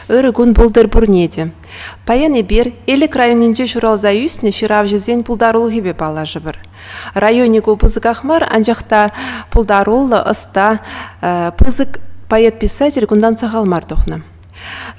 Ырӑ кун пултӑр пурне те. Паян эпир Элӗк районӗнче ҫуралса ӳснӗ ҫыравҫӑсен пултарулӑхӗпе паллашӑпӑр. Районӗ ку пысӑках мар, анчах та пултаруллӑ, ӑста, пысӑк поэт-писатель кунтан сахал мар тухнӑ.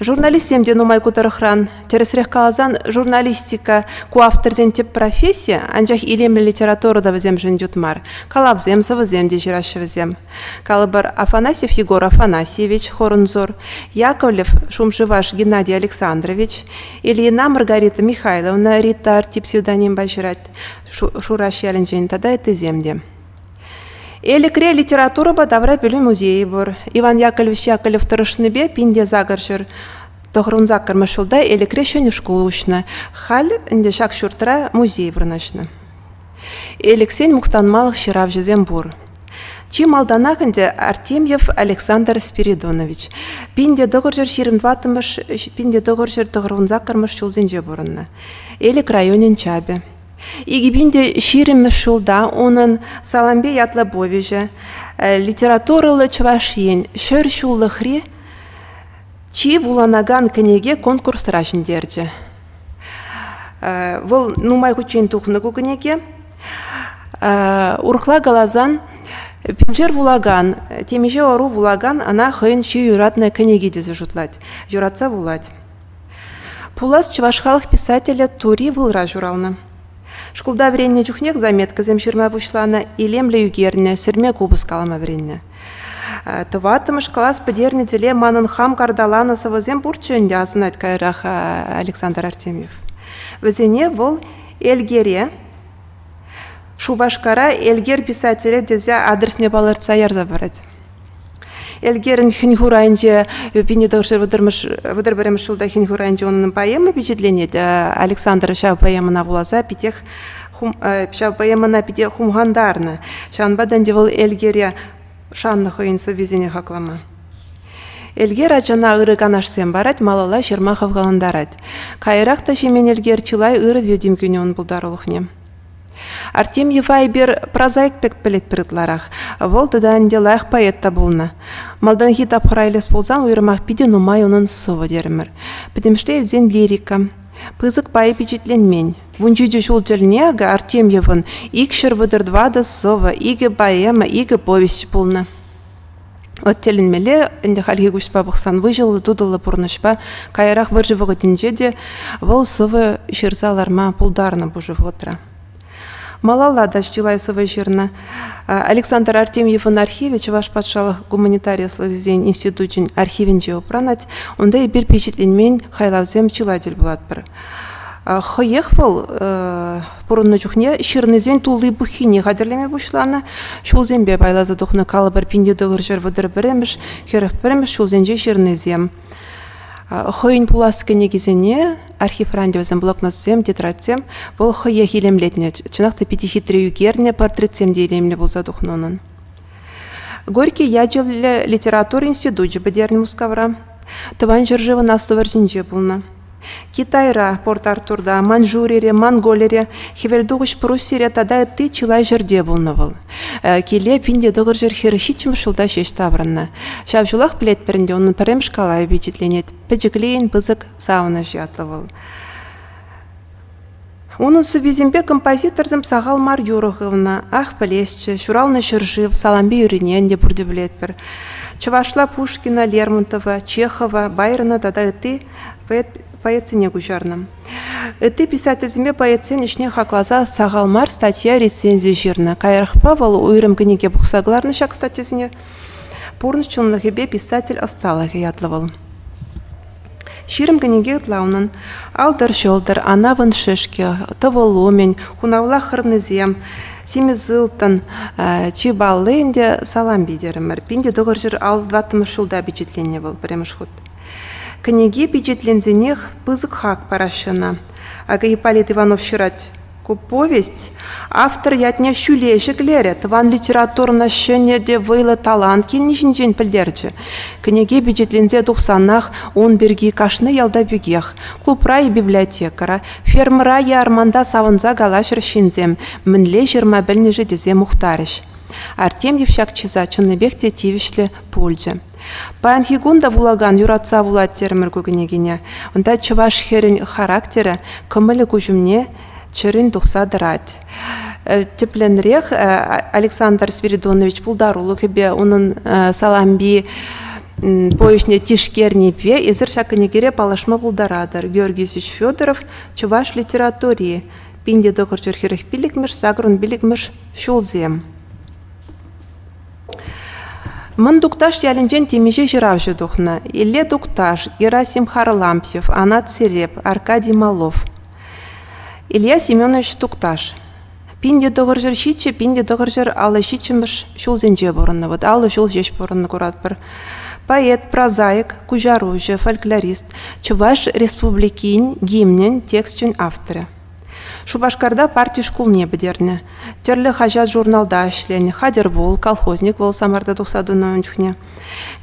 Журналистсем те нумай ку тӑрӑхран. Тӗрӗсрех каласан, журналистика ку авторсен тӗп професси, анчах илемлӗ литература та вӗсемшӗн ют мар. Калавсем, сӑвӑсем те ҫыраҫҫӗ вӗсем. Калӑпӑр, Афанасьев Егор Афанасьевич, Хорнзор, Яковлев Шумшеваш Геннадий Александрович, Ильина Маргарита Михайловна Рита Арти псевдонимпа ҫырать Шураш ялӗнчен тата ыттисем те. Элӗкре литературӑпа тавра пӗлӳ музейӗ пур. Иван Яковлевич Яковлев тӑрӑшнипе пинте сакӑрҫӗр тӑхрун саккӑрмӗш ҫулта Элӗкре ҫӗнӗ шкул уҫнӑ. Халь ӗнтӗ ҫак ҫуртра музей вырнаҫнӑ. Элӗксен мухтанмалӑх ҫыравҫӑсем пур. Чи малтанах ӗнтӗ Артемьев Александр Спиридонович пин те тӑхӑрҫӗр ҫирӗм тӑваттӑмӗш пин те тӑхӑрҫӗр тӑхӑрвунсаккӑрмӗш ҫулсенче пурӑннӑ. Элӗк районӗн чапӗ. Икӗ пин те ҫирӗммӗш ҫулта унӑн Салампе ятлӑ повеҫӗ, литературӑллӑ Чӑваш Ен ҫӗр ҫуллӑхри чи вуланакан кӗнеке конкурсра ҫӗнтерчӗ. Вӑл нумай хутчен тухнӑ ку кӗнеке. Урӑхла каласан, пиншер вулакан, темиҫе ӑру вулакан ӑна хӑйӗн чи юратнӑ кӗнеки тесе шутлать, юратса вулать. Пулас чӑваш халӑх писателӗ Тури Вылра ҫуралнӑ. Шкулта вӗреннӗ чухнех заметкӑсем ҫырма пуҫланӑ, илемлӗ ӳкернӗ, сӗрме купӑс калама вӗреннӗ. Тӑваттӑмӗш класс пӗтернӗ тӗле манӑн хам карталанӑ сӑвӑсем пурччӗ ӗнтӗ, асӑнать каярах Александр Артемьев. Вӗсене вӑл Элгере, Шупашкара Элгер писателӗ тесе адресне палӑртса ярса парать. Элгерӗн хӗн-хурайӗнче пинне тӑршер вӑтӑр пӗрремӗш ҫулта хӗн-хурайӗнче унӑн поэма пичетленет. Александр ҫав поэмӑна вуласа питех ҫав поэмӑна питӗ хумхантарнӑ. Ҫавӑнпа та ӗнтӗ вӑл Элгере шаннӑ хӑйӗн сӑввисене хаклама. Элгер ачана ырӑ канашсем парать, малалла ҫырма хавхалантарать. Каярах та ҫимен Элгер чылай ырӑ витӗм кӳнӗ ун пултарулӑхне. Артемьев Айбер прозаик пек пӗлетпӗр ытларах. Вӑл тата ӗнтӗ лайӑх поэт та пулнӑ. Малтанхи тапхӑр айлес пулсан уйрӑмах питӗ нумай унӑн сӑвӑ терӗмӗр. Пӗтӗмӗшле илсен лирика. Пысӑк пайӗ пичетленмен. Вунҫичӗ ҫул тӗлне Артемьевӑн икҫӗр вӑтӑр тӑватӑ сӑвӑ, икӗ поэма, икӗ повесть пулнӑ. От тӗлӗнмелле ӗнтӗ хальхи куҫпа пӑхсан выҫӑллӑ-тутӑллӑ пурнӑҫпа каярах вӑрҫӑ вӑхӑтӗнче те вӑл сӑвӑ ҫырса ларма пултарнӑ пушӑ вӑхӑтра. Малалла та чылай сӑвӑ ҫырнӑ. Александр Артемьевӑн архивӗ Чӑваш патшалӑх гуманитари ӑслӑхӗсен институчӗн архивӗнче упранать. Унта эпир пичетленмен хайлавсем чылай тӗл пулатпӑр. Хӑех вӑл пурӑннӑ чухне ҫырнисен тулли-пуххине хатӗрлеме пуҫланӑ, ҫулсемпе пайласа тухнӑ калӑпӑр пин тӑхӑр ҫӗр вӑтӑр пӗрремӗш, хӗрӗх пӗрремӗш ҫулсенчи ҫырнисем. Хӑйӗн пулас кӗнекисене архивранчӗсем, блокнотсем, тетрадьсем вӑл хӑех илемлетнӗ. Чӑнах та питӗ хитре ӳкернӗ, портретсем те илемлӗ пулса тухнӑ унӑн. Горький ячӗллӗ литература институчӗ пӗтернӗ Мускавра. Тӑван ҫӗршывӑн Аслӑ вӑрҫинче пулнӑ. Китайра, Порт-Артурта, Маньчжурире, Монголире, Хӗвелтухӑҫ Пруссире тата ытти чылай ҫӗрте пулнӑ вӑл. Киле пин тӑкӑр ҫӗр хӗр ҫиччӗмӗш ҫулта ҫеҫ таврӑннӑ. Ҫав ҫулах пӗлетпӗр ӗнтӗ унӑн пӗрремӗш калавӗ пичетленет. Пӗчӗклейӗн пысӑк савӑнӑҫ ятлӑ вӑл. Унӑн сӑввисемпе композиторсем сахал мар юрӑ хывнӑ. Ах, пӗлесчӗ, ҫуралнӑ ҫӗршыв Салампи юрине те пурте пӗлетпӗр. Чӑвашла Пушкина, Лермонтова, Чехова, Байрона тата ытти поэтсене куҫарнӑ. Ытти писательсемпе поэтсен ӗҫне хакласа сахал мар статья-рецензи ҫырнӑ. Каярахпа вӑл уйрӑм кӗнеке пухса кӑларнӑ ҫак статьясене. Пурнӑҫ чӑнлӑхӗпе писатель ӑсталӑхӗ ятлӑ вӑл. Ҫирӗм кӗнеке ытла унӑн. «Алтӑр-ҫӑлтӑр», «Анапӑн шӗшкӗ», «Тӑвӑл умӗн», «Хунавла хӑрнисем», «Симӗс ылтӑн», «Чи палли ӗнтӗ» салам питӗрӗмӗр. Пин те тӑхӑрҫӗр ал тӑваттӑмӗш ҫулта пичетленнӗ вӑл пӗрремӗш хут. Кӗнеке пичетленсенех пысӑк хак параҫҫӗ ӑна. Акӑ Ипполит Иванов ҫырать. Ку повесть автор ятне ҫӳле ҫӗклерӗ, тӑван литературӑна ҫӗнӗ те вӑйлӑ талант килни ҫинчен пӗлтерчӗ. Кӗнеке пичетленсе тухсанах ун пирки кашни ялта пекех, клубра и библиотекӑра, фермӑра е арманта савӑнса калаҫрӗҫ ҫынсем, мӗнле ҫырма пӗлнӗ-ши тесе мухтарӗҫ. Артемьев ҫак чыса чӑннипех те тивӗҫлӗ пулчӗ. Паянхи кун та вулакан юратса вулать терӗмӗр ку кӗнекене. Унта чӑваш хӗрӗн характерӗ, кӑмӑлӗ куҫ умне чӗрин тухса тӑрать. Э, тӗплӗнрех э, Александр Спиридонович пултарулӑхӗпе унӑн э, саламби повеҫне тишкернипе эсир ҫак кӗнекере паллашма пултаратӑр. Георгий Исич Федоров чӑваш литератури пин те тӑхӑр ҫур хӗрӗх пиллӗкмӗш сакӑрӑн пиллӗкмӗш ҫулсем. Мӑн Тукташ ялӗнчен темиҫе ҫыравҫӑ тухнӑ: Илле Тукташ, Герасим Харлампьев, Анат Сереп, Аркадий Малов. Илья Семенович Тукташ пин те тӑхӑрҫӗр ҫиччӗ, пин те тӑхӑрҫӗр аллӑ ҫиччӗмӗш ҫулсенче пурӑннӑ. Вӑт аллӑ ҫул ҫеҫ пурӑннӑ куратпӑр. Поэт, прозаик, куҫаруҫӑ, фольклорист, Чӑваш Республикин гимнӗн тексчӗн авторӗ. Шупашкарта парти шкулне пӗтернӗ. Тӗрлӗ хаҫат-журналта ӗҫленӗ. Хатӗр пул, колхозник вӑл Самарта тухса тӑнӑ ун чухне.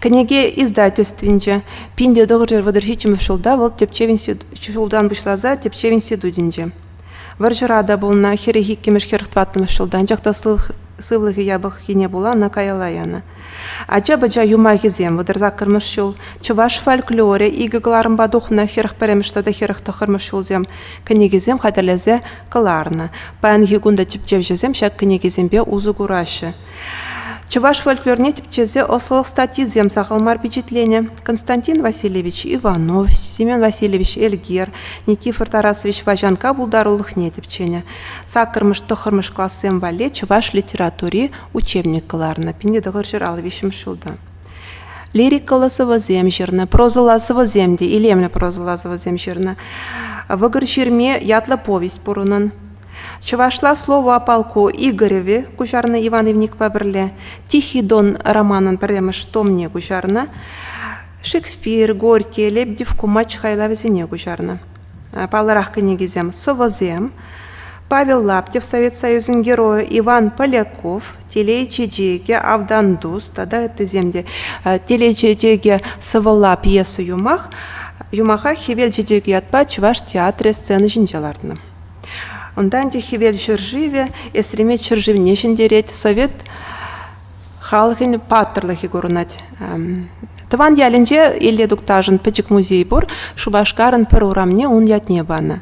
Кӗнеке издательствинче пин те тӑхӑрҫӗр вӑтӑрҫиччӗмӗш ҫулта вӑл тӗпчев институт ҫултан пуҫласа тӗпчев институтӗнче. Вӑрҫӑра та пулнӑ, хӗрӗх иккӗмӗш, хӗрӗх тӑваттӑмӗш ҫултан чӑх та сывлӑхӗ япӑххине пула ӑна каялла янӑ. Ача-пӑча юмахӗсем вӑтӑр саккӑрмӗш ҫул, чӑваш фольклорӗ икӗ кӑларӑмпа тухнӑ хӗрӗх пӗрремӗш тата хӗрӗх тӑххӑрмӗш ҫулсем кӗнекесем хатӗрлесе кӑларнӑ. Паянхи кун та тӗпчевҫӗсем ҫак кӗнекесемпе усӑ кураҫҫӗ. Чӑваш фольклорне тӗпчесе ӑслӑлӑх статйисем сахал мар пичетленӗ. Константин Васильевич Иванов, Семен Васильевич Эльгер, Никифор Тарасович Ваҫанка пултарулӑхне тӗпченӗ. Саккӑрмӗш-тӑххӑрмӗш классем валли чӑваш литератури учебник кӑларнӑ пинте тӑхӑрҫӑр ал виҫҫӗмӗш ҫулта. Лирикӑллӑ сӑвӑсем ҫырнӑ, прозӑлла сӑвӑсем те илемлӗ прозӑлла сӑвӑсем ҫырнӑ. Вӑкӑр ҫырми ятлӑ повесть пур унӑн. Чӑвашла слово о полку Игореве куҫарнӑ Иван Ивникпа пӗрле. Тихий дон романӑн пӗрремӗш томне куҫарнӑ. Шекспир, Горький, Лебедев, Кумач хайлавӗсене куҫарнӑ. Паллӑрах кӗнекисем «Сӑвӑсем», Павел Лаптев Совет Союзӗн Геройӗ, Иван Поляков «Телей чечекӗ», «Автан тус» тата ыттисем те. «Телей чечекӗ» сӑвӑлла пьеса юмах юмаха «Хӗвел чечекӗ» ятпа Чӑваш театрӗ сцена ҫинче лартнӑ. Унтан те Хӗвел ҫӗршывӗ Эсремет ҫӗршывне ҫӗнтерет, Совет Халӑхӗн паттӑрлӑхӗ курӑнать. Тӑван ялӗнче Илле Тукташӑн пӗчӗк музей пур. Шупашкарӑн пӗр урамне ун ятне панӑ.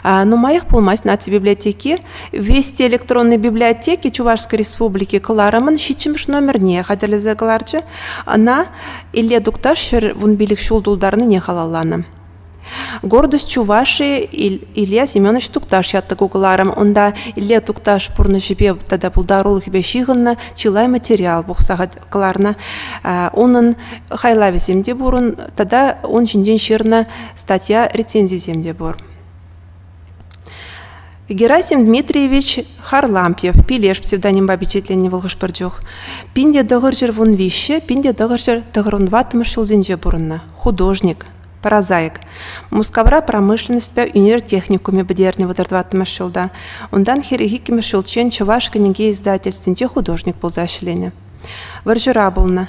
Нумаях пулмасть наци библиотеки Вести электронной библиотеки Чувашской Республики кӑларӑмӑн ҫиччӗмӗш номерне хатӗрлесе кӑларчӗ. Ӑна Илле Тукташ ҫӗр вун пилӗк ҫул тултарнине халалланӑ. Гордость Чувашии Илья Семенович Тукташ ятта кукӑларӑм. Унта Илья Тукташ пурнӑҫӗпе тата пултарулӑхӗпе ҫыхӑннӑ чылай материал пухса кӑларнӑ. Унӑн хайлавӗсем те пурӑн тата ун ҫинчен ҫырнӑ статья рецензисем те пур. Герасим Дмитриевич Харлампьев пилеш псевдонимпа пичетленнӗ вӑл хӑш-пӗр чух. Пин те тӑхӑр ҫӗр вун виҫҫе, пин те тӑхӑр ҫӗр тӑхӑр вун ваттӑмӗш ҫулсенче пурӑннӑ. Художник. Паразайк. Мускавра промышленноҫпа ӳнер техникумӗ пӗтернӗ вӑтӑр тӑваттӑмӗш ҫулта. Унтан хӗрӗх иккӗмӗш ҫулччен Чӑваш кӗнеке издательствинче художник пулса ӗҫленӗ. Вӑрҫӑра пулнӑ.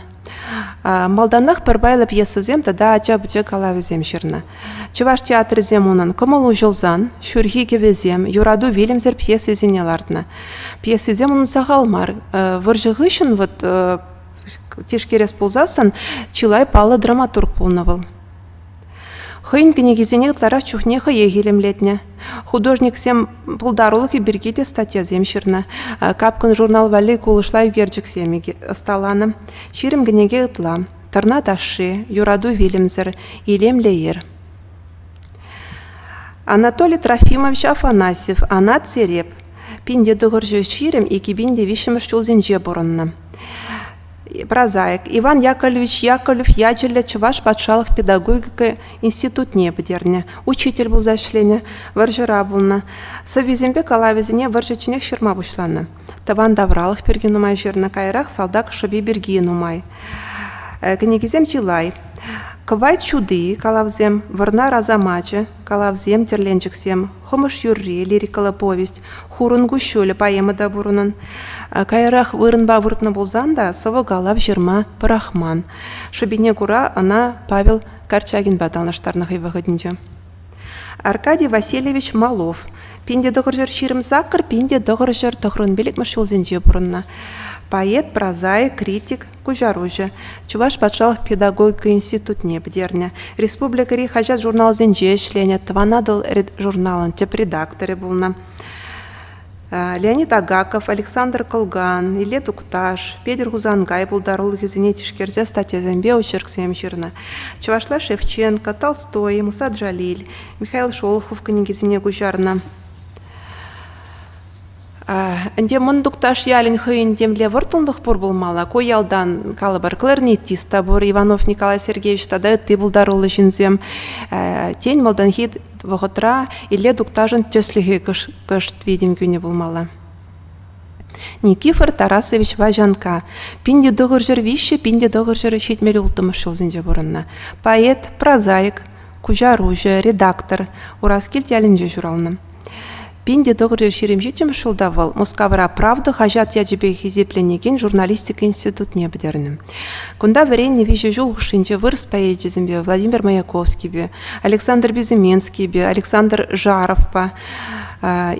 Малтанах пӗр пайлӑ пьесӑсем тата ача-пӑча калавӗсем ҫырнӑ. Чӑваш театрӗсем унӑн Кӑмӑл уҫӑлсан, Ҫурхи кӗвӗсем, Юрату вилӗмсӗр пьесисене лартнӑ. Пьесисем унӑн сахал мар. Вӑрҫӑ хыҫҫӑн вот Тишкерес пулсассӑн чылай паллӑ драматург пулнӑ вӑл. Хӑйӗн кӗнекисене ытларах чухне хӑех илемлетнӗ. Художниксем пултарулӑхӗ пирки те статьясем ҫырнӑ. Капкӑн журнал валли кулӑшла ӳкерчӗксем ӑсталанӑ. Ҫирӗм кӗнеке ытла. Тӑрна ташши, Юрату вилӗмсӗр, Илемлӗ ир. Анатолий Трофимович Афанасьев Анат Сереп, пин тӑхӑрҫӑ ҫирӗм икӗпин те виҫҫӗмӗш ҫулсенче пурӑннӑ. Прозаик Иван Яковлевич Яковлев ячӗллӗ Чӑваш патшалӑх педагогика институтне пӗтернӗ. Учитель пулса ӗҫленӗ, вӑрҫӑра пулнӑ. Сӑввисемпе калавӗсене вӑрҫӑ чӗнех ҫырма пуҫланӑ. тӑван тавралӑх пирки нумай ҫырнӑ, каярах салтак шӑпи пирки нумай. Кӗнекисем чылай. Кӑвайт ҫути калавсем, Вӑрнар асамачӗ калавсем, тӗрленчӗксем, Хӑмӑш юрри лирикӑллӑ повесть, Хурӑн куҫҫулӗ поэма та пурӑнӑн. Каярах вырӑнпа выртнӑ пулсан та сӑвӑ-калав ҫырма пӑрахман. Шӑпине кура ӑна Павел Корчагинпа танлаштарнӑ хӑй вӑхӑтӗнче. Аркадий Васильевич Малов пин те тӑхӑр ҫӗр ҫирӗм сакӑр пин те тӑхӑр ҫӗр тӑхрӑн пиллӗкмӗш ҫулсенче пурӑннӑ. Поэт, прозаик, критик, куҫаруҫӑ. Чӑваш патшалӑх педагогика институтне пӗтернӗ. Республикӑри хаҫат-журналсенче ӗҫленӗ, Тӑван Атӑл журналӑн тӗп редакторӗ пулнӑ. Леонид Агаков, Александр Кылган, Илле Тукташ, Петӗр Хусанкай пултарулӑхӗсене тишкерсе статьясемпе очерксем ҫырнӑ. Чӑвашла Шевченко, Толстой, Муса Джалиль, Михаил Шолохов кӗнекисене куҫарнӑ. Ӗнтӗ Мӑн Тукташ ялӗн хӑйӗн темле вӑрттӑнлӑх пур пулмалла. Ку ялтан калӑпӑр кларнетист та пур, Иванов Николай Сергеевич тата ытти пултаруллӑ ҫынсем. Тен, малтанхи вӑхӑтра Илле Тукташӑн тӗслӗхӗ кӑшт витӗм кӳнӗ пулмалла. Никифор Тарасович Ваҫанка пин те тӑхӑр ҫӗр виҫҫӗ пин те тӑхӑр ҫӗр ҫитмӗл улттӑмӗш ҫулсенче пурӑннӑ. Поэт, прозаик, куҫаруҫӑ, редактор Ураскилт ялӗнче ҫуралнӑ. Пин те тӑхӑрҫӗ ҫирӗм ҫиччӗмӗш ҫулта вӑл Мускавра «Правда» хаҫат ячӗпе хисепленекен журналистика институтне пӗтернӗ. Кунта вӗреннӗ виҫӗ ҫул хушшинче вырӑс поэчӗсемпе Владимир Маяковскийпе, Александр Безыменскийпе, Александр Жаровпа,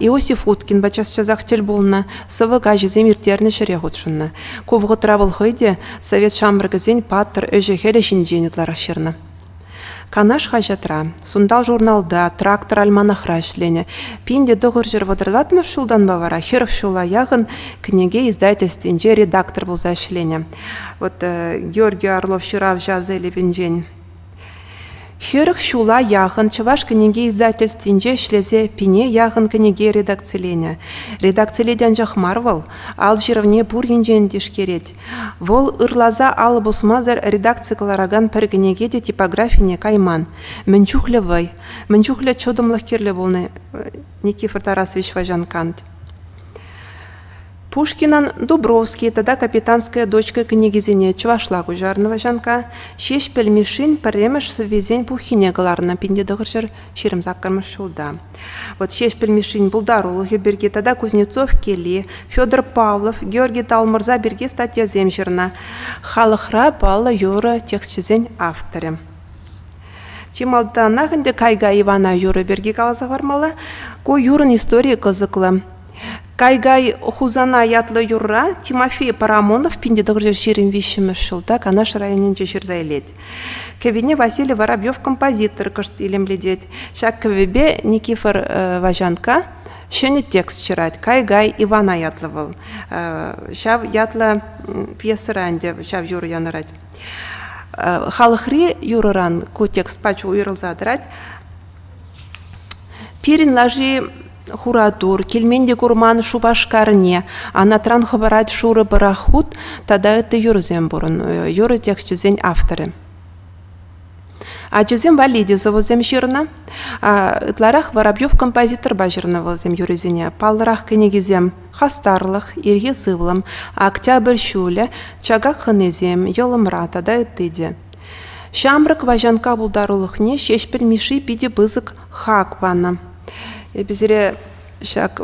Иосиф Уткинпа час-часах тӗл пулнӑ, сӑвӑ каҫӗсем ирттернӗ ҫӗре хутшӑннӑ. Ку вӑхӑтра вӑл хӑй те совет ҫамрӑкӗсен паттӑр ӗҫӗ-хӗлӗ ҫинчен ытларах ҫырнӑ. Канаш хаҫатра, Сунтал журналта, Трактор альманахра ӗҫленӗ. Пин те тӑхӑр ҫӗр вӑтӑртатмӑш ҫултанпа вара хӗрӗх ҫула яхӑн кӗнеке издательствинче редактор пулса ӗҫленӗ. Вот э, Георгий Орлов ҫыравҫӑ Азелевӗнчен Хӗрӗх ҫула яхӑн Чӑваш кӗнеке издательствинче ӗҫлесе пине яхӑн кӗнеке редакциленӗ. Редакцилет анчах мар вӑл, ал ҫырӑвне пур енчен тишкерет. Вӑл ырласа алӑ пусмасӑр редакци кӑларакан пӗр кӗнеке те типографине кайман. Мӗн чухлӗ вӑй, мӗн чухлӗ чӑтӑмлӑх кирлӗ пулнӑ Никифор Тарасович Ваҫанкант. Пушкинӑн «Дубровский» тата «Капитанская дочка» кӗнекисене чӑвашла куҫарнӑ Ваҫанка Ҫеҫпӗл Мишшин пӗрремӗш сӑввисен пуххине кӑларнӑ пин те тӑхӑрҫӗр ҫирӗм саккӑрмӗш ҫулта. Вот Ҫеҫпӗл Мишшин пултарулӑхӗ пирки тата Кузнецов кели, Федор Павлов, Георгий Талмӑрза пирки статьясем ҫырнӑ. Халӑхра паллӑ юрӑ тексчӗсен авторӗ. Чи малтанах ӗнтӗ Кайга Ивана юрӑ пирки каласа хӑвармалла. Ку юрӑн историйӗ кӑсӑклӑ. Кайгай Хусана ятлӑ юрра Тимофей Парамонов 19ҫирӗм виҫҫӗмӗш ҫулта Канаш районӗнче ҫырса илет. Кӗвине Василий Воробьев композитор кӑшт илемлетет. Ҫак кӗвӗпе Никифор Ваҫанка ҫӗнӗ текст ҫырать. Кай-гай Ивана ятлӑ вӑл. Ҫав ятлӑ пьесӑра ӗнтӗ ҫав юрӑ янӑрать. Халӑхри юрӑран ку текст пачӗ уйрӑлса тӑрать. Пирӗн лаши Хуратур, килмен те курман Шупашкарне, анатран хӑпарать шурӑ пӑрахут тата ытти юрӑсем пурӑн. Юрӑ тексчӗсен авторӗ. Ачасем валли те сӑвӑсем ҫырнӑ. Ытларах Воробьев композиторпа ҫырнӑ вӑлсем юррисене. Паллӑрах кӗнекисем «Хастарлӑх», «Ирхи сывлӑм», «Октябрь ҫулӗ», «Чакак хӑнисем», «Йӑлӑмра» тата ытти те. Ҫамрӑк Ваҫанка пултарулӑхне Ҫеҫпӗл Мишши питӗ пысӑк хак панӑ. Эпӗ сире ҫак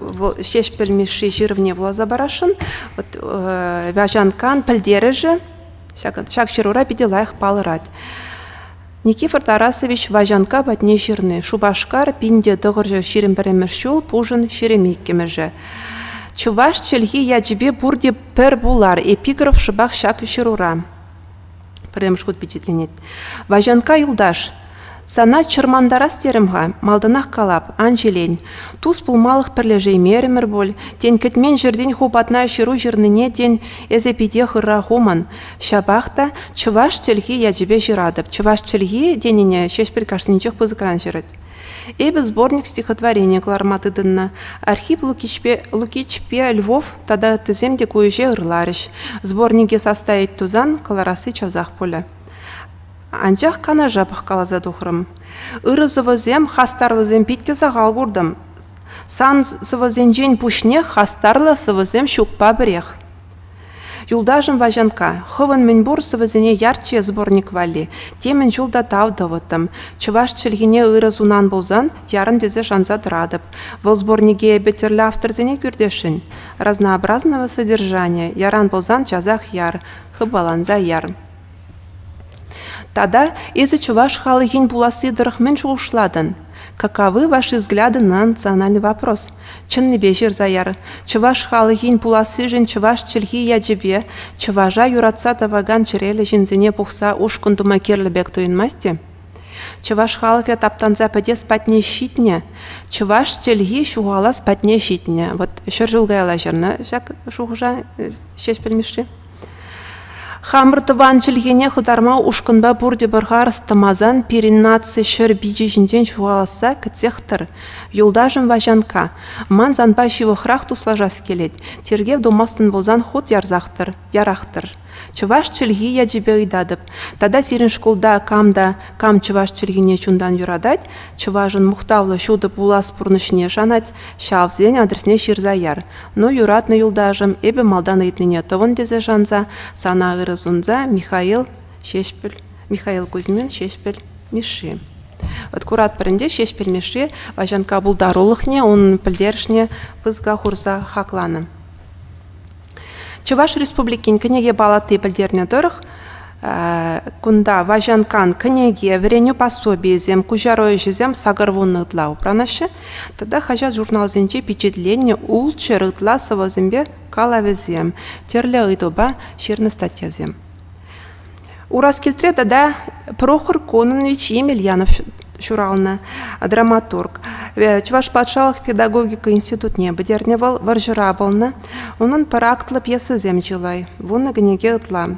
Ҫеҫпӗл Мишши ҫырӑвне вуласа парасшӑн. Вот, э, Вяжанкан пӗлтерӗшӗ ҫак ҫырура питӗ лайӑх палӑрать. Никифор Тарасович Ваҫанка патне ҫырни Шупашкар пинте тӑхӑрҫӑ ҫирӗм пӗрремӗш ҫул пушӑн ҫирӗм иккӗмӗшӗ. Чӑваш чӗлхи ячӗпе пурте пӗр пулар эпиграф шӑпах ҫак ҫырура. Пӗрремӗш хут пичетленет. «Ваҫанкка юлташ, сана чӑрмантарас терӗм-ха, малтанах калап, ан ҫилен. Тус пулмалӑх пӗрлешеймерӗмӗр пуль, тен, кӗтмен ҫӗртен ху патна ҫыру ҫырнине, тен, эсӗ питех ырра хумӑн. Ҫапах та чӑваш чӗлхи ячӗпе ҫыратӑп. Чӑваш чӗлхи тенине Ҫеҫпӗл кашнинчех пысӑкран ҫырать. Эпӗ сборник стихотворени кӑларма тытӑннӑ. Архип Лукичпе Львов тата ыттисем те ку ӗҫе ырларӗҫ. Сборнике састайать тусан кӑларасси часах пулӗ. Анчах канаша пӑхкаласа тухрӑм. Ырӑ сӑвӑсем, хастарлӑсем питте сахал куртӑм. Сан сӑвӑсенчен пуҫне хастарлӑ сӑвӑсем ҫукпа пӗрех. Юлташӑм Ваҫанкка, хӑвӑн мӗнпур сӑвӑсене ярччӗ сборник валли. Темӗн чул та тав тӑвӑттӑм. Чӑваш чӗлхине ырӑ сунан пулсан, ярӑн тесе шанса тӑратӑп. Вӑл сборнике эпӗ тӗрлӗ авторсене кӳртесшӗн. Разнообразного содержания, яран пулсан часах яр, хыпаланса яр. Тата эсӗ чӑваш халӑхӗн пуласси тӑрӑх мӗн шухӑшлатӑн? Каковы ваши взгляды на национальный вопрос? Чӑннипе ҫырса яр. Чӑваш халӑхӗн пулассишӗн чӑваш чӗлхи ячӗпе, чӑваша юратса тӑвакан чӗреллӗ ҫынсене пухса ушкӑн тума кирлӗ пек туйӑнмасть-и? Чӑваш халӑхӗ таптанса пӗтес патне ҫитнӗ, чӑваш чӗлхи ҫухалас патне ҫитнӗ. Вот ҫӗр ҫул каялла ҫырнӑ ҫак шухӑша, ҫеҫ пӗлмӗш-ши? Хамӑр тӑван чӗлхене хӑтарма ушкӑнпа пурте пӗр харӑс тӑмасан пирӗн наци ҫӗр пичӗ ҫинчен ҫухаласса кӗтсех тӑр. Юлташӑм Ваҫанкка, ман санпа ҫывӑхрах туслашас килет. Тергев тумастӑн пулсан хут ярсах-тӑр, ярах-тӑр. Чӑваш чӗлхи ячӗпе ыйтатӑп. Тата сирӗн шкулта кам та кам чӑваш чӗлхине чунтан юратать, чӑвашӑн мухтавлӑ ҫутӑ пулас пурнӑҫне шанать, ҫавсен адресне ҫырса яр. Ну, юратнӑ юлташӑм, эпӗ малтан ыйтнине тӑвӑн тесе шанса, сана ырӑ сунса Михаил Ҫеҫпӗл, Михаил Кузьмин Ҫеҫпӗл Мишши. Вот куратпӑр ӗнтӗ Ҫеҫпӗл Мишши Ваҫанкка пултарулӑхне, унӑн пӗлтерӗшне пысӑка хурса хакланӑ. Чӑваш Республикин кӗнеке палати пӗлтернӗ тӑрӑх, Кунта Ваҫанкан кӗнеке, вӗренӳ пособийӗсем, куҫару ӗҫӗсем сакӑр вуннӑ ытла упранаҫҫӗ тата хаҫат-журналсенче пичетленнӗ ултҫӑр ытла сӑвӑсемпе калавӗсем, тӗрлӗ ыйтупа ҫырнӑ статьясем. Ураскилтре тата Прохор Кононович Емельянов ҫуралнӑ, драматург. Чӑваш патшалӑх педагогика институтне пӗтернӗ вӑл, вӑрҫӑра пулнӑ. Унӑн пӑрахтлӑ пьесисем чылай, вуннӑ кӗнеке ытла.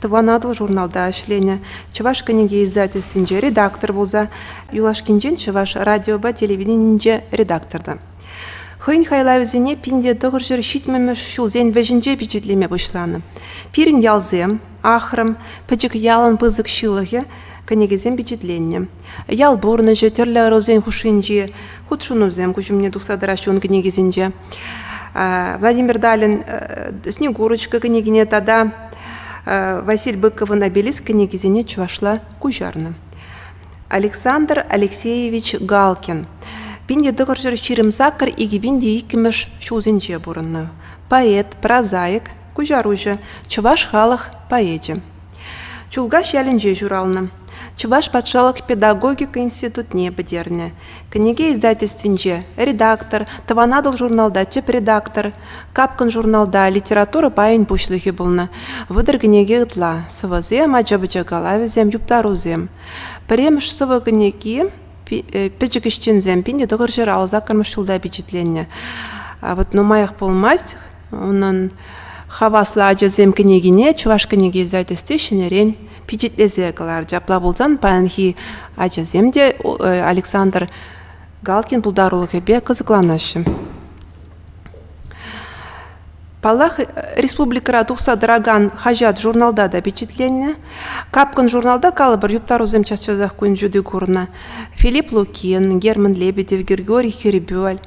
Тӑван Атӑл журналта ӗҫленӗ, Чӑваш кӗнеке издательствинче редактор пулса, юлашкинчен Чӑваш радиопа телевиденийӗнче редактор та. Хӑйӗн хайлавӗсене пин те тӑхӑрҫӗр ҫитмӗмӗш ҫулсен вӗҫӗнче пичетлеме пуҫланӑ. «Пирӗн ялсем», «Ахрӑм», «Пӗчӗк ялӑн пысӑк ҫылӑхӗ» кӗнекесем пичетленнӗ. Ял пурнӑҫӗ, тӗрлӗ ӑрусен хушшинчи хутшӑнусем куҫ умне тухса тӑраҫҫӗ ун кӗнекисенче. Владимир Далин «Снегурочка» кӗнекине тата Василь Быковӑн «Обелиск» кӗнекисене чӑвашла куҫарнӑ. Александр Алексеевич Галкин пин тӑхӑрҫӗр ҫирӗм сакӑр икӗ пин те иккӗмӗш ҫулсенче пурӑннӑ. Поэт, прозаик, куҫаруҫӑ, чӑваш халӑх поэчӗ. Чулкаш ялӗнче ҫуралнӑ. Чӑваш патшалӑх педагогика институтне пӗтернӗ. Кӗнеке издательствинче редактор, Тӑван Атӑл журналта тӗп редактор, Капкӑн журналта литература пайӗн пуҫлӑхӗ пулнӑ. Вӑтӑр кӗнеке ытла, сӑвӑсем, ача-пӑча калавӗсем, юптарусем. Пӗрремӗш сӑвӑ кӗнеки э, пӗчӗк ӗҫченсем пинӗ тӑхӑр ҫӗр ал саккӑрмӗш ҫулта пичетленнӗ. Вот нумаях пулмасть Унӑн Хаваслӑ ачасем кӗнекине Чӑваш кӗнеке издательстви ҫӗнӗрен пичетлесе кӑларчӗ. Апла пулсан паянхи ачасем те Александр Галкин пултарулӑхӗпе кӑсӑкланаҫҫӗ. Паллах, республикӑра тухса тӑракан хаҫат-журналта та пичетленнӗ. Капкӑн журналта калӑпӑр юптарусем час-часах кун ҫути курнӑ. Филипп Лукин, Герман Лебедев, Григорий Хербюль,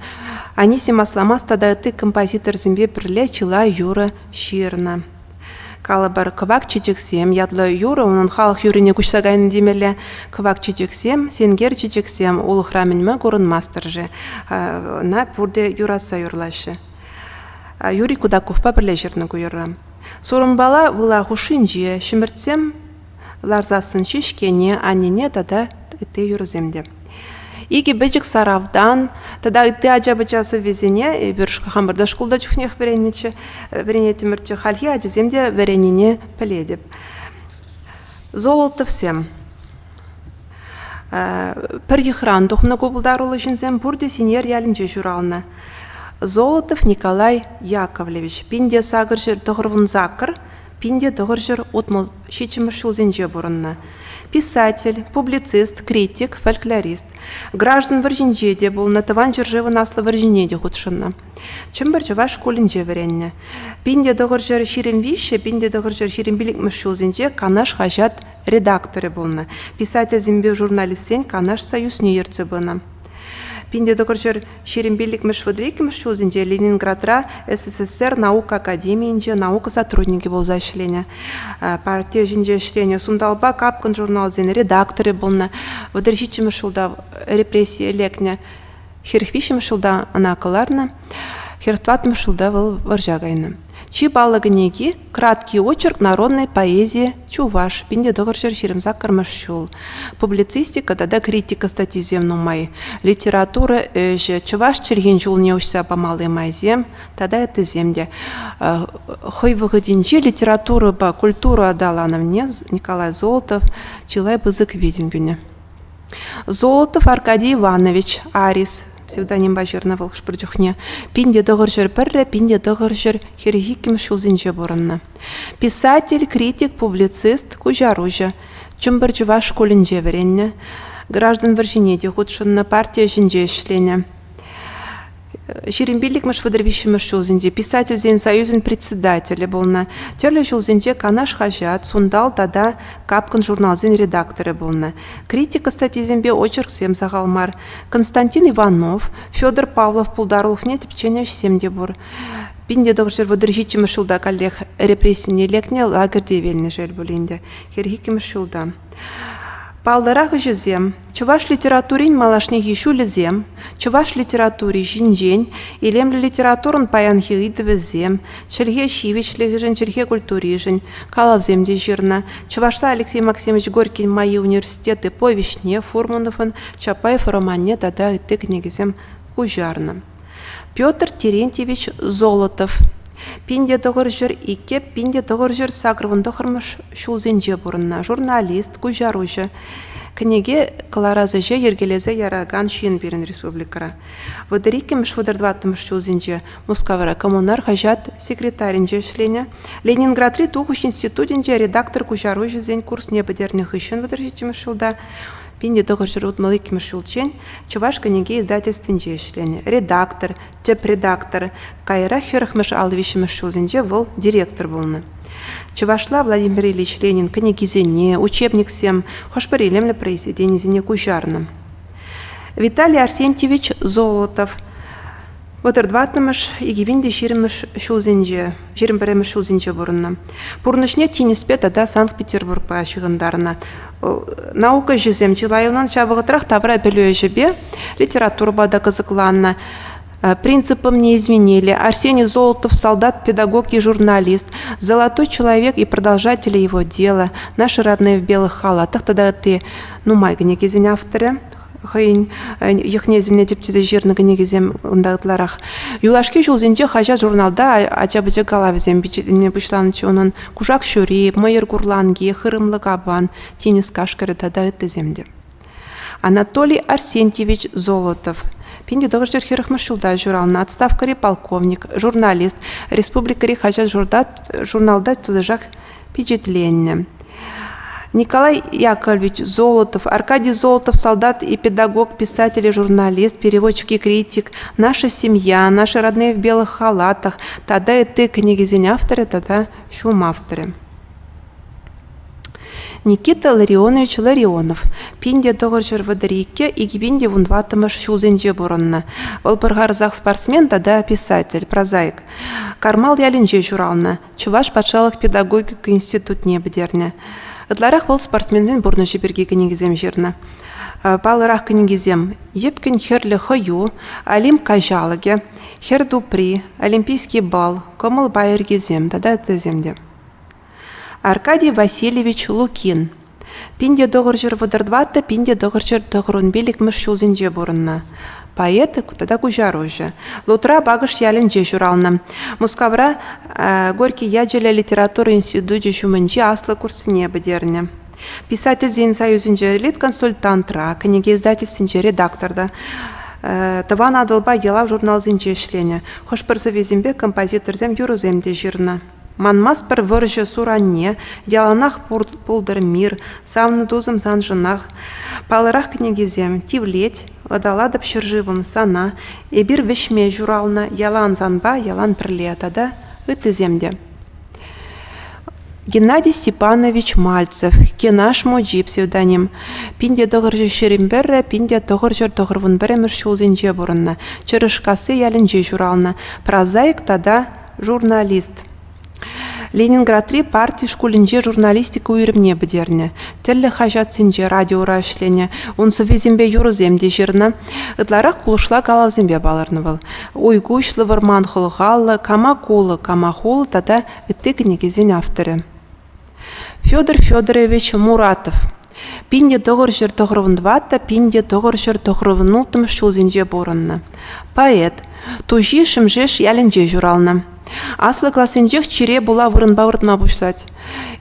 Анисим Асламас тата ытти композиторсемпе пӗрле чылай юрӑ ҫырнӑ. Калӑпӑр, кӑвак чечексем ятлӑ юрӑ унӑн халӑх юррине куҫса кайнӑ темелле. Кӑвак чечексем, сенкер чечексем улӑхра мӗн-ма курӑнмастӑр-ши? Ӑна пурте юратса юрлаҫҫӗ. Юрий Кудаковпа пӗрле ҫырнӑ ку юрра. Сурӑмпала выла хушшинче ҫӗмӗртсем ларсассӑн ҫеҫкене, аннене тата ытти юрӑсем те. Икӗ пӗчӗк саравтан тата ытти ача-пӑча сӑввисене эпир хамӑрта шкулта чухнех вӗреннӗччӗ, вӗренеттӗмӗрччӗ. Хальхи ачасем те вӗреннине пӗлетӗп. Золотовсем. Пӗр йӑхран тухнӑ ку пултаруллӑ ҫынсем пурте Синер ялӗнче ҫуралнӑ. Золотов Николай Яковлевич, пин те сакӑр ҫӗр тӑхӑр вун сакӑр Пин те тӑхӑрҫӗр утмӑл ҫиччӗмӗш ҫулсенче пурӑннӑ. Писатель, публицист, критик, фольклорист. Граждан вӑрҫинче те пулнӑ, Тӑван ҫӗршывӑн Аслӑ вӑрҫине те хутшӑннӑ. Чӗмпӗр чӑваш шкулӗнче вӗреннӗ. Пин те тӑхӑрҫӗр ҫирӗм виҫҫӗ, пин те тӑхӑрҫӗр ҫирӗм пилӗкмӗш ҫулсенче Канаш хаҫат редакторӗ пулнӑ, писательсемпе журналистсен Канаш союзне ертсе пынӑ. Пин те тӑкӑр ҫӗр ҫирӗм пиллӗкмӗш вӑтӑр иккӗмӗш ҫулсенче Ленинградра СССР наука академийӗнче наука сотрудникӗ пулса ӗҫленӗ. Парти ӗҫӗнче ӗҫленӗ. Сунталпа капкӑн журналсен редакторӗ пулнӑ. Вӑтӑр ҫиччӗмӗш ҫулта репрессие лекнӗ. Хӗрӗх виҫҫӗмӗш ҫулта ӑна кӑларнӑ. Хӗр тӑваттӑмӗш ҫулта вӑл вӑрҫа кайнӑ. Чи паллӑ кӗнеки Краткий очерк народной поэзии Чуваш, пинтетӑхӑрҫӑр ҫирӗм саккӑрмӗш ҫул. Публицистика тата критика статйисем нумай. Литература ӗҫӗ, чӑваш чӗлхин ҫулне уҫса памалли майсем тата ыттисем те. Хӑй вӑхӑтӗнче литературӑпа культура аталанӑвне Николай Золотов чылай пысӑк витӗм кӳнӗ. Золотов Аркадий Иванович, Арис, псевдонимпа ҫырнӑ вӑл хӑш-пӗр чухне, пин те тӑхӑр ҫӗр пӗрре пин те тӑхӑр ҫӗр хӗрӗх иккӗмӗш ҫулсенче пурӑннӑ. Писатель, критик, публицист, куҫаруҫӑ. Чӗмпӗр чӑваш шкулӗнче вӗреннӗ. Граждан вӑрҫине те хутшӑннӑ, парти ӗҫӗнче ӗҫленӗ. Ҫирӗм пиллӗкмӗш вӑтӑр виҫҫӗмӗш ҫулсенче писательсен союзӗн председателӗ пулнӑ, тӗрлӗ ҫулсенче Канаш хаҫат, Сунтал тата Капкӑн журналсен редакторӗ пулнӑ. Критика статйисемпе очерксем сахал мар. Константин Иванов, Федор Павлов пултарулӑхне тӗпченӗ ӗҫсем те пур. 1900 вӑтӑр ҫиччӗмӗш ҫулта каллех репрессине лекнӗ лагерьте вилнӗ шел пулин те, хӗр иккӗмӗш ҫулта. Паллӑрах ӗҫӗсем Чӑваш литературин малашнехи ҫулӗсем, чӑваш литератури ҫинчен, илемлӗ литературӑн паянхи ыйтӑвӗсем, чӗлхе ҫивӗчлӗхӗшӗн, чӗлхе культуришӗн калавсем те ҫырнӑ. Чӑвашла Алексей Максимович Горькин Майи университеты повеҫне, Фурмановӑн Чапаев романне тата ытти кӗнекесем куҫарнӑ. Петр Терентьевич Золотов пин те тӑхӑр ҫӗр иккӗ пин те тӑхӑр ҫӗр сакӑрвӑн тӑхӑрмӗш ҫулсенче пурӑннӑ журналист, куҫаруҫӑ, кӗнеке кӑларас ӗҫе йӗркелесе яракан ҫын пирӗн республикӑра. Вӑтӑр иккӗмӗш, вӑтӑр тӑваттӑмӗш ҫулсенче Мускавра коммунар хаҫат секретарӗнче ӗҫленӗ, Ленинградри тухӑҫ институтӗнче редактор куҫаруҫӑсен курсне пӗтернӗ хыҫҫӑн вӑтӑр ҫиччӗмӗш ҫулта Пин те тӑхӑр ҫӗр утмӑл иккӗмӗш ҫулччен Чӑваш кӗнеке издательствинче ӗҫленӗ, редактор, тӗп редактор, каярах хӗрӗхмӗш ал виҫҫӗмӗш ҫулсенче вӑл директор пулнӑ. Чӑвашла Владимир Ильич Ленин кӗнекисене, учебниксем, хӑш-пӗр илемлӗ произведенисене куҫарнӑ. Виталий Арсентьевич Золотов Вӑтӑр тӑваттӑмӗш, икӗ пин те ҫирӗммӗш ҫулсенче, ҫирӗм пӗрремӗш ҫулсенче пурӑннӑ. Пурнӑҫне тинӗспе тата Санкт-Петербургпа ҫыхӑнтарнӑ. Наука ӗҫӗсем чылайӑнӑн ҫав вӑхӑтрах тавра пӗлӳ ӗҫӗпе литературӑпа та кӑсӑкланнӑ. Принципым не изменили, Арсений Золотов солдат, педагог и журналист, Золотой человек и продолжатели его дела, Наши родные в белых халатах тата ытти нумай кӗнекесен авторӗ. хӑйӗн йӑхне-сӗмне тӗпчесе ҫырнӑ кӗнекесем унта ытларах. Юлашки ҫулсенче хаҫат-журналта ача-пӑча калавӗсем пичетленме пуҫланӑччӗ унӑн. Кушак ҫури, Мӑйӑр курланки, Хырӑмлӑ капан, Тинӗс кашкӑрӗ тата ыттисем те. Анатолий Арсентьевич Золотов, пин те тӑхӑр ҫӗр хӗрӗхмӗш ҫулта ҫуралнӑ отставкӑри полковник, журналист, республикӑри хаҫат-журналта тӑтӑшах пичетленнӗ. Николай Яковлевич Золотов, Аркадий Золотов, солдат и педагог, писатель и журналист, переводчик и критик, «Наша семья», «Наши родные в белых халатах» тата ытти кӗнекесен авторӗ тата ҫум авторӗ. Никита Ларионович Ларионов пин те тӑхӑр ҫӗр вӑтӑр икке икӗ пин те вунтӑваттӑмӗш ҫулсенче пурӑннӑ. Вӑл пӑрхарсах спортсмен тата писатель, прозаик. Кармал ялӗнче ҫуралнӑ, Чӑваш патшалӑх педагогика институтне пӗтернӗ. Ытларах вӑл спортсменсен пурнӑҫӗ пирки кӗнекесем ҫырнӑ. Паллӑрах кӗнекесем «Йӗпкӗн хӗрлӗ хӑю», «Олимп каҫалӑкӗ», «Хӗр тупри», «Олимпийский бал», «Кӑмӑл пайӑркисем» тата ыттисем те. Аркадий Васильевич Лукин Пин те тӑхӑр ҫӗр вӑтӑр тӑваттӑ, пин те тӑхӑр ҫӗр тӑхӑр ун пилӗкмӗш ҫулсенче пурӑннӑ. Поэт тата куҫаруҫӑ. Лутра Пакӑш ялӗнче ҫуралнӑ. Мускавра Горький ячӗллӗ литература институчӗ ҫумӗнчи аслӑ курсне пӗтернӗ. Писательсен союзӗнче лид-консультантра, кӗнеке-издательствинче редакторта, Тӑван Атӑлпа ялав журналсенче ӗҫленӗ. Хӑш-пӗр сӑввисемпе композиторсем юрӑсем те ҫырнӑ. Манмастпӑр вӑрҫӑ суранне, яланах пултӑр мир, савнӑ тусӑм саншӑнах. Палӑрах кӗнекесем Тивлет, Вӑталатӑп ҫӗршывӑм сана, Эпир вӗҫме ҫуралнӑ, Ялан санпа, ялан пӗрле тата ыттисем те. Геннадий Степанович Мальцев «Кенаш мучи» псевдоним. Пин те тӑхӑрҫӗр ҫӗрӗн пӗррӗ, пин те тӑхӑрҫӗр тӑхӑрвун пӗрремӗш ҫулсенче пурӑннӑ. Чӑрӑшкасси ялӗнче ҫуралнӑ. Прозаик тата журналист. Ленинградри парти шкулӗнче журналистика уйрӑмне пӗтернӗ. Тӗрлӗ хаҫатсенче, радиора ӗҫленӗ. Ун сӑввисемпе юрӑсем те ҫырнӑ. Ытларах кулӑшла калавсемпе палӑрнӑ вӑл. Уйкуҫлӑ вӑрман хӑлхаллӑ, Кама кулӑ, кама хул тата ытти кӗнекесен авторӗ. Федор Федорович Муратов пин те тӑхӑр ҫӗр тӑхрӑмӑн тӑватта пин те тӑхӑр ҫӗр тӑхрӑмӑн улттӑмӗш ҫулсенче пурӑннӑ поэт. Туҫи Шӗмшеш ялӗнче ҫуралнӑ. Аслӑ классенчех чире пула вырӑнпа выртма пуҫлать.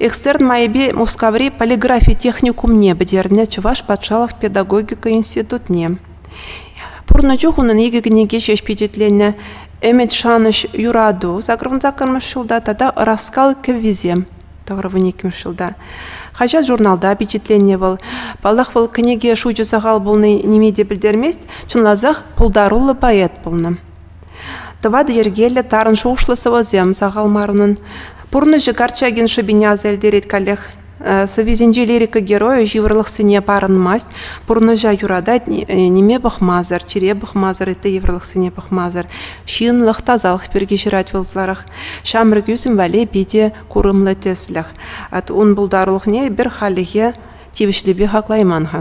Экстерн майӗпе Мускаври полиграфи техникумне пӗтернӗ Чӑваш патшалӑх педагогика институтне. Пурнӑ чух унӑн икӗ кӗнеке ҫеҫ пичетленнӗ «Ӗмӗт, шанӑҫ, юрату» сакӑрмӑн саккӑрмӗш ҫулта тата «Ӑраскал кӗввисем» тӑхӑрвун иккӗмӗш ҫулта. Хаҫат-журналта пичетленнӗ вӑл. Паллах, вӑл кӗнеке шучӗ сахал пулни ниме те пӗлтермест, чӑнласах пултаруллӑ поэт пулнӑ. Тӑватӑ йӗркеллӗ тарӑн шухӑшлӑ сӑвӑсем сахал мар унӑн. Пурнӑҫӗ Корчагин шӑпине аса илтерет каллех. Сӑввисенчи лирика геройӗ йывӑрлӑхсене парӑнмасть, пурнӑҫа юратать, ниме пӑхмасӑр, чире пӑхмасӑр, ытти йывӑрлӑхсене пӑхмасӑр. Ҫынлӑх, тасалӑх пирки ҫырать вӑл ытларах. Ҫамрӑк ӳсӗм валли питӗ курӑмлӑ тӗслӗх. Ун пултарулӑхне эпир халлӗхе тивӗҫлипе хаклайман-ха.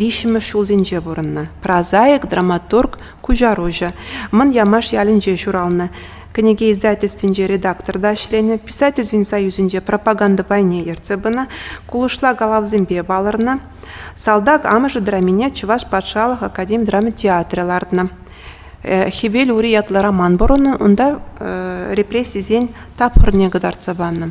виҫҫӗмӗш ҫулсенче пурӑннӑ. Прозаик, драматург, куҫаруҫӑ. Мӑн Ямаш ялӗнче ҫуралнӑ. Кӗнеке издательствинче редактор та ӗҫленӗ, писательсен союзӗнче пропаганда пайне ертсе пынӑ, кулӑшла калавсемпе палӑрнӑ. Салтак амӑшӗ драмине Чӑваш патшалӑх академи драма театрӗ лартнӑ. Хӗвел ури ятлӑ роман пурӑннӑ, унта репрессисен тапхӑрне кӑтартса панӑ.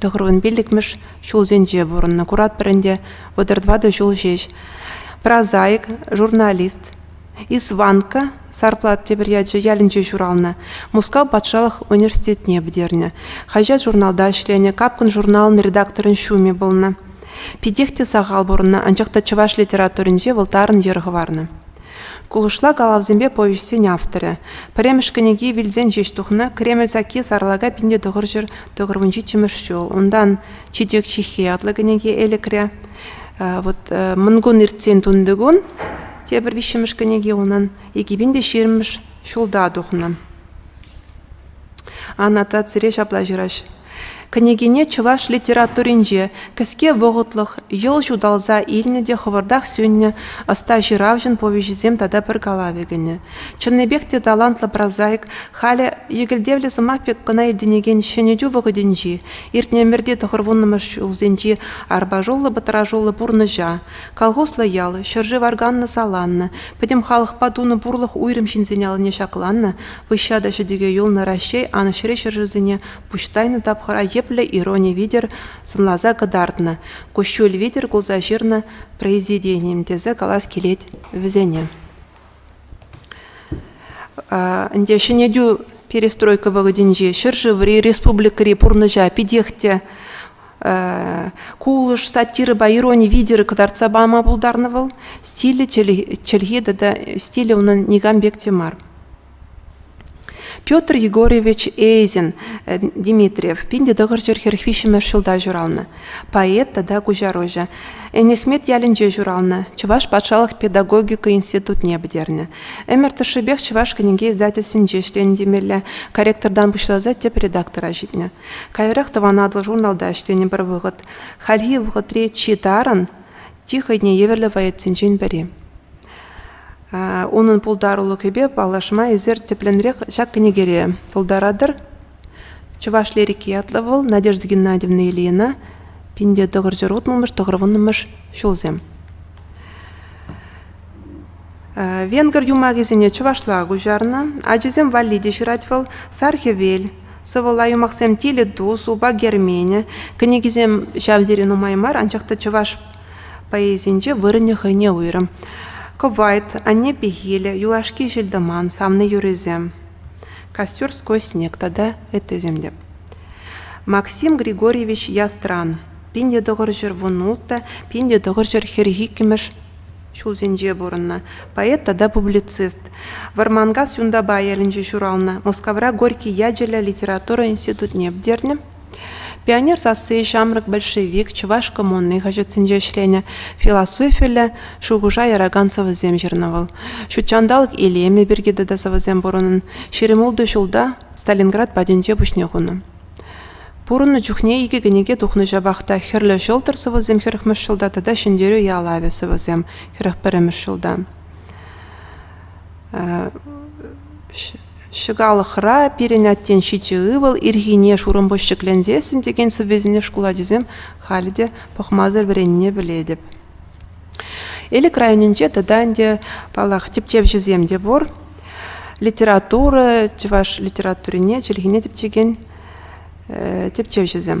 тӑхӑрвун пиллӗкмӗш ҫулсенче пурӑннӑ. Куратпӑр ӗнтӗ, вӑтӑр тӑватӑ ҫул ҫеҫ. Прозаик, журналист. Исванка Сарплат тепӗр ячӗ ялӗнче ҫуралнӑ. Мускав патшалӑх университетне пӗтернӗ. Хаҫат-журналта ӗҫленӗ, Капкӑн журналӑн редакторӗн ҫумӗ пулнӑ. Питех те сахал пурӑннӑ, анчах та чӑваш литературинче вӑл тарӑн йӗр хӑварнӑ. Кулӑшла калавсемпе повеҫсен авторӗ. Пӗрремӗш кӗнеки вилсен ҫеҫ тухнӑ, Кремль сакки сарлака пинте тӑхӑрҫӗр тӑхӑрмӗн ҫиччӗмӗш ҫул. Унтан читек чихи ятлӑ кӗнеке элӗкре. Вот мӑнкун иртсен тунтикун тепӗр виҫҫӗмӗш кӗнеке унӑн икӗ пин те ҫирмӗш ҫулта тухнӑ. Аннотацире ҫапла ҫыраҫ. Кӗнекене чӑваш литературинче кӗске вӑхӑтлӑх йӑл ҫуталса илнӗ те хӑвӑртах сӳннӗ ӑста ҫыравҫӑн повеҫӗсем тата пӗр калавӗ кӗнӗ. Чӑннипех те талантлӑ прозаик, халӗ йӗкӗлтевлӗ сӑмах пек кӑна иртӗнекен ҫӗнетӳ вӑхӑтӗнчи, иртнӗ ӗмӗрти тӑхӑр вуннӑмӗш ҫулсенчи арпашуллӑ-пӑтрашуллӑ пурнӑҫа, колхозлӑ ял, ҫӗршыв арканнӑ-саланнӑ, пӗтӗм халӑхпа тунӑ пурлӑх уйрӑм ҫынсен аллине ҫакланнӑ, выҫҫа та ҫӗтӗке юлнӑ Раҫҫей Анӑҫри ҫӗршывсене пуҫ тайнӑ тапхӑра йӗплӗ ирони витӗр сӑнласа кӑтартнӑ, куҫҫуль витӗр кулса ҫырнӑ произведенийӗм тесе калас килет вӗсене. Ӗнтӗ ҫӗнетӳ перестройка вӑхӑтӗнчи ҫӗршыври, республикӑри пурнӑҫа питех те кулӑш, сатирӑпа ирони витӗр кӑтартса пама пултарнӑ вӑл. Стилӗ, чӗлхи тата стилӗ унӑн никам пек те мар. Петр Егорович Эйзин Дмитриев пин те тӑхӑрҫӗр хӗр виҫҫӗмӗш ҫулта ҫуралнӑ, поэт тата куҫаруҫӑ. Энӗхмет ялӗнче ҫуралнӑ, Чӑваш патшалӑх педагогика институтне пӗтернӗ. Ӗмӗр тӑршшӗпех Чӑваш кӗнеке издательствинче ӗҫленӗ темелле, корректортан пуҫласа тӗп редактора ҫитнӗ. Каярах Тӑван Атӑл журналта ӗҫленӗ пӗр вӑхӑт. Хальхи вӑхӑтри чи тарӑн, чи хӑйне евӗрлӗ поэтсенчен пӗри. Унӑн пултарулӑхӗпе паллашма эсир тӗплӗнрех ҫак кӗнекере пултаратӑр. Чӑваш лирики ятлӑ вӑл Надежда Геннадьевна Ильина пинте тӑхӑрҫӑр утмӑлмӗш тӑхӑрвуннӑмӗш ҫулсем. Венгр юмахӗсене чӑвашла куҫарнӑ. Ачисем валли те ҫырать вӑл Сар хӗвел, сӑвӑла юмахсем Тилӗ тус, Упа Герменӗ. Кӗнекисем ҫав тери нумай мар, анчах та чӑваш Поэзинче вырӑнӗ хӑйне уйрӑм. Кӑвайт, Анне пехилӗ, Юлашки ҫил-тӑман, Савнӑ юррисем, Костюрской снег тата ыттисем те. Максим Григорьевич Ястран пин тӑхӑрҫӗр вун ултӑ, пин тӑхӑрҫӗр хӗрӗх иккӗмӗш ҫулсенче пурӑннӑ поэт тата публицист. Вӑрманкас Юнтапа ялӗнче ҫуралнӑ. Мускавра Горький ячӗллӗ литература институтне пӗтернӗ. Пионер сасси ҫамрӑк большевик чӑваш коммуни хаҫатсенче ӗҫленӗ, философиллӗ шухӑша яракан сӑвӑсем ҫырнӑ вӑл. Ҫутҫанталӑк илемӗ пирки тата сӑвӑсем пур унӑн. Ҫирӗм ултӑ ҫулта Сталинград патӗнче пуҫне хунӑ. Пурӑннӑ чухне икӗ кӗнеке тухнӑ ҫапах та Хӗрлӗ ҫӑлтӑр сӑвӑсем хӗрӗхмӗш ҫулта тата Ҫӗнтерӳ ялавӗ сӑвӑсем хӗрӗх пӗрремӗш ҫулта. Ҫӑкалӑхра пирӗн аттен ҫичӗ ывӑл, ирхине шурӑмпуҫ ҫӗкленсессӗн текен сӑввесене шкул ачисем халӗ те пӑхмасӑр вӗренни пӗлетӗп. Элӗк районӗнче тата ӗнтӗ, паллах, тӗпчевҫӗсем те пур. Литература, чӑваш литературине чӗлхине тӗпчекен тӗпчевҫӗсем.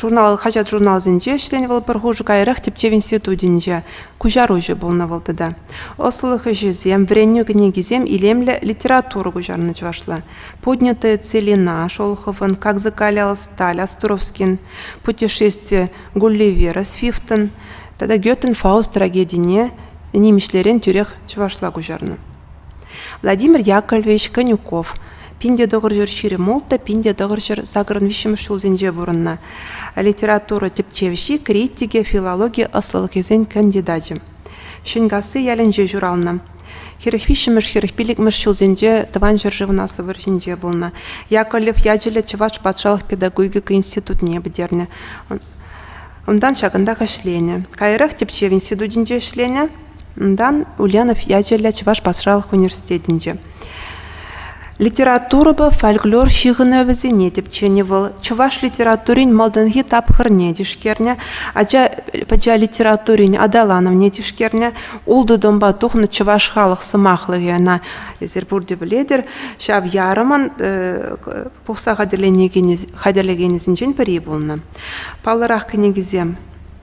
Журнал, хаҫат-журналсенче ӗҫленӗ вӑл пӗр хушӑ каярах тӗпчев институтӗнче куҫаруҫӑ пулнӑ вӑл тата. Ӑслӑлӑх ӗҫӗсем, вӗренӳ кӗнекисем илемлӗ литература куҫарнӑ чӑвашла. «Поднятые целина» Шолоховӑн, «Как закаля сталь» Островскин, «Путешествие Гулливера» Свифтӑн тата «Гётен Фауст» трагедине нимӗҫлерен тӳрех чӑвашла куҫарнӑ. Владимир Яковлевич Конюков пин те тӑхӑрҫӗр ҫирӗм ултӑ, пин те тӑхӑрҫӗр сакӑрӑн виҫҫӗмӗш ҫулсенче пурӑннӑ, литература тӗпчевҫи, критикӗ, филологи ӑслӑлӑхӗсен кандидачӗ. Ҫӗнкасси ялӗнче ҫуралнӑ. Хӗрӗх виҫҫӗмӗш, хӗрӗх пиллӗкмӗш ҫулсенче тӑван ҫӗршывӑн Аслӑ вӑрҫинче пулнӑ. Яковлев ячӗллӗ Чӑваш патшалӑх педагогика институтне пӗтернӗ. Унтан ҫакӑнтах ӗҫленӗ. Каярах тӗпчев институтӗнче ӗҫленӗ. Унтан Ульянов ячӗллӗ Чӑваш патшалӑх университетӗнче. Литературӑпа фольклор ҫыхӑнӑвӗсене тӗпченӗ вӑл. Чӑваш литературин малтанхи тапхӑрне тишкернӗ, ача литературин аталанӑвне тишкернӗ. Ултӑ томпа тухнӑ чӑваш халӑх сӑмахлӑхӗ ӑна эсир пурте пӗлетӗр. Ҫав ярӑмӑн пухса хатӗрленекенӗсенчен пӗри пулнӑ. Паллӑрах кӗнекесем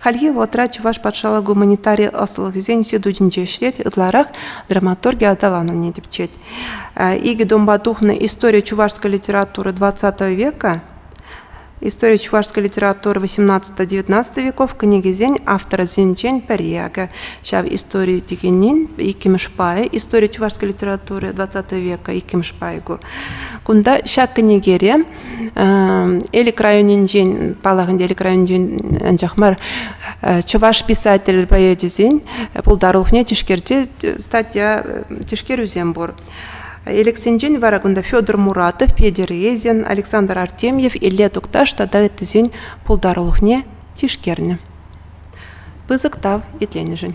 Хальхи вӑхӑтра Чӑваш патшалӑх гуманитари ӑслӑлӑхӗсен институтӗнче ӗҫлет, ытларах драматурги аталанӑвне тӗпчет. Икӗ томпа тухнӑ «История чувашской литературы 20 века» История чувашской литературы 18-19 веков кӗнекесен авторӗсенчен пӗри. Акӑ ҫав истори текенин иккӗмӗш пайӗ, история чувашской литературы 20 века иккӗмӗш пайӗ ку. Кунта ҫак кӗнекере Элӗк районӗнчен, паллах ӗнтӗ Элӗк районӗнчен анчах мар, чӑваш писатель поэчӗсен пултарулӑхне тишкерче статья тишкерӳсем пур. Элӗксенчен вара кунта Федор Муратов, Петер Резин, Александр Артемьев, Илле Тукташ тата ыттисен пултарулӑхне тишкернӗ. Пысӑк тав итленӗшӗн.